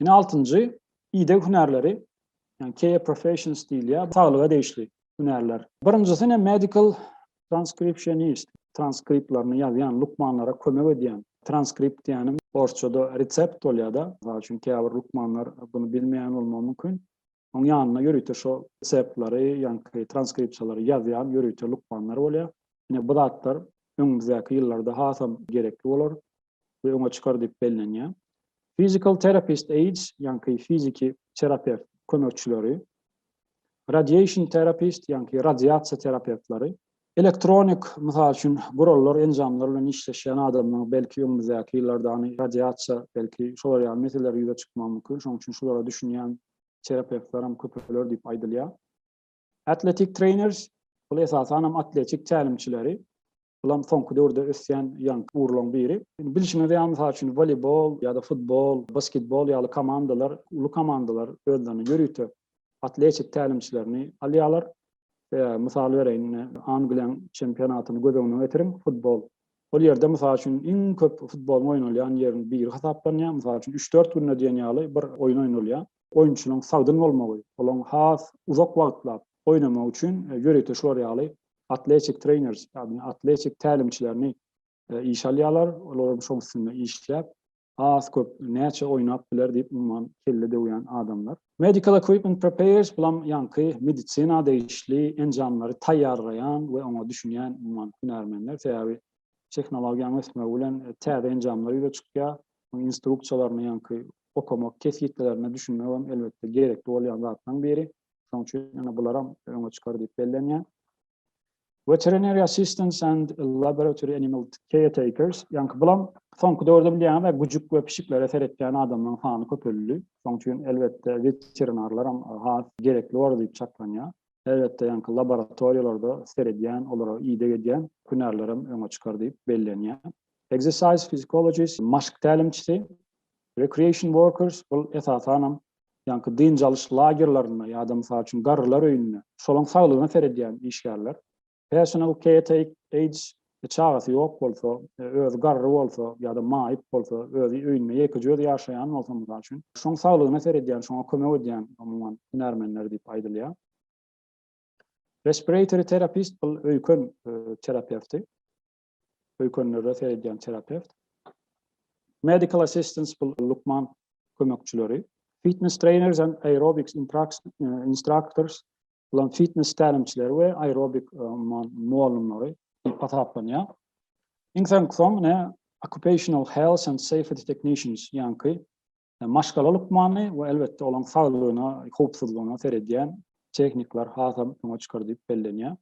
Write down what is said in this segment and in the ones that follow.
Ine altynjy, ideg hünärleri, yani care professions diýilýär, saglyga degişli hünärler. Birinjisi ne medical transcriptionist, transkriptlerini ýazýan, lukmanlara kömek edýän. Transkript diýýänim orsçada resept bolýar-da, mysal üçin käbir lukmanlar bunu bilmeýän bolmagy mümkin. Oň ýanynda ýörite şo reseptlary, ýaňky transkripsiýalary ýazýan ýörite lukmanlar bolýar. Ine bu zatlar öňümizdäki ýyllarda hasam gerekli bolar we öňe çykar diýip bellenýär. Physical therapist aids, ýaňky fiziki terapewt kömekçileri, radiation therapist, ýaňky radiasiýa terapewtleri, Elektronik, mysal üçin, gurallar, enjamlar bilen işleşýän adamlaryň belki öňümizdäki ýyllarda any radiasiýa, belki şolar ýaly meseleler ýüze çykmagy mümkin, şonuň üçin şulara düşünýän terapewtler hem köpeler diýip aýdylýar. Athletic trainers, bul esasan hem atletik tälimçileri, bul hem soňky döwürde ösýän ýaňky ugurlaryň biri. Indi bilşiňiz ýaly, mysal üçin, woleýbol ýa-da futbol, basketbol ýaly komandalar, uly komandalar özlerini ýörite atletik tälimçilerini alýarlar. Mysal bereýin, ine, Angliýanyň çempionatyny göz öňüne getiriň, futbol. Ol ýerde, mysal üçin, iň köp futboluň oýnalýan ýeriniň biri hasaplanýar. Mysal üçin, üç-dört günde diýen ýaly bir oýun oýnalýar. Oýunçynyň sagdyn bolmagy, olaň has uzak wagtlap oýnamagy üçin ýörite şular ýaly atletik treýner, ýagny atletik tälimçilerini işe alýarlar. Olar hem şoň üstünde işläp, az köp näçe oýnap biler diýip umuman kelle döwýän adamlar. Medical equipment prepares bulam ýaňky medisina degişli enjamlary taýýarlaýan we oňa düşünýän umuman hünärmenler sebäbi tehnologiýanyň ösmegi bilen täze enjamlar ýüze çykýar. Instruksiýalaryny ýaňky okamak kesgitlelerine düşünmek hem elbetde gerekli bolýan zatlaryň biri. Şoň üçin ýene bularam öňe çykar diýip bellenýär. Veterinary assistants and laboratory animal caretakers, ýaňky bulam soňky döwürde bilýäňizä güjük we pişiklere seretýän adamlaryň sany köpeldi. Şoň üçin elbetde veterinarlaram has gerekli boldy diýip çaklanýar. Elbetde ýaňky laboratoriýalarda seredýän, olara ideg edýän hünärlerem öňe çykar diýip bellenýär. Exercise physiologist, maşk tälimçisi, recreation workers, bul esasanam ýaňky dynç alyş lagerlerinde ýa-da, mysal üçin, garrylar öýünde, şolaryň saglygyna seredýän işgärler. Häçan ol KTH çagasy ýok bolsa, özi garry bolsa ýa-da maýyp bolsa, özi öýünde ýekeje özi ýaşaýan bolsa, mysal üçin, şoň saglygyna seredýän, şoňa kömek edýän, umuman, hünärmenler diýip aýdylýar. Respiratory terapist, bul öýken terapewti. Öýkenlere seredýän terapewt. Medical assistants bul lukman kömekçileri. Fitness trainers and aerobics instructors bulam fitness tälimçileri we aerobik mugallymlary diýip hasaplanýar. Iň soňky soň ne occupational health and safety technicians ýaňky Maşgala lukmany we elbetde olaň saglygyna, howpsuzlygyna seredýän tehnikler hasam öňe çykar diýip bellenýär.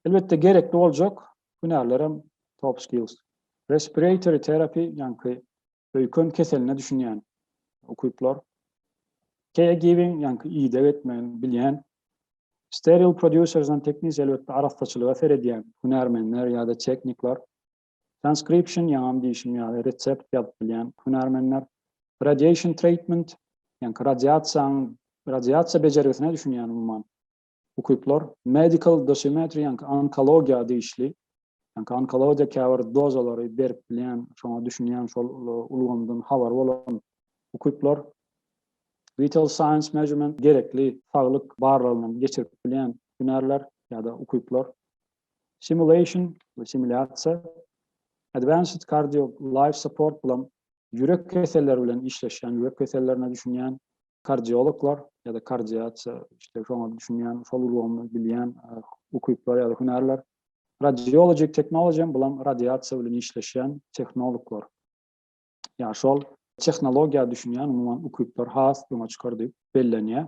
Elbetde gerekli boljak hünärler hem top skills. Respiratory terapi, ýaňky öýken keseline düşünýän ukyplar. Caregiving, ýaňky ideg etmegini bilýän. Sterile producers and technics, elbetde arassaçylyga seredýän hünärmenler ýa-da tehnikler. Transcription, ýaňam diýşim ýaly, resept ýazyp bilýän hünärmenler. Radiation treatment, ýaňky radiasiýaň, radiasiýa bejergisine düşünýän umuman ukyplar. Medical dosimetry, ýaňky onkologiýa degişli, ýaňky onkologiýa käbir dozalary berip bilýän, şoňa düşünýän, şol ulgamdan habary bolan ukyplar. Vital signs measurement, gerekli saglyk barlagyny geçirip bilýän hünärler ýa-da ukyplar. Simulation we simulýasiýa, Advanced Cardio Life Support bulam ýürek keselleri bilen işleşýän, ýürek kesellerine düşünýän kardiologlar ýa-da kardiasiýa işte şoňa düşünýän, şol ulgamy bilýän ukyplar ýa-da hünärler. Radiology Technology bulam radiasiýa bilen işleşýän tehnologlar. Ýa şol tehnologiýa düşünýän umuman ukyplar has öňe çykar diýip bellenýär.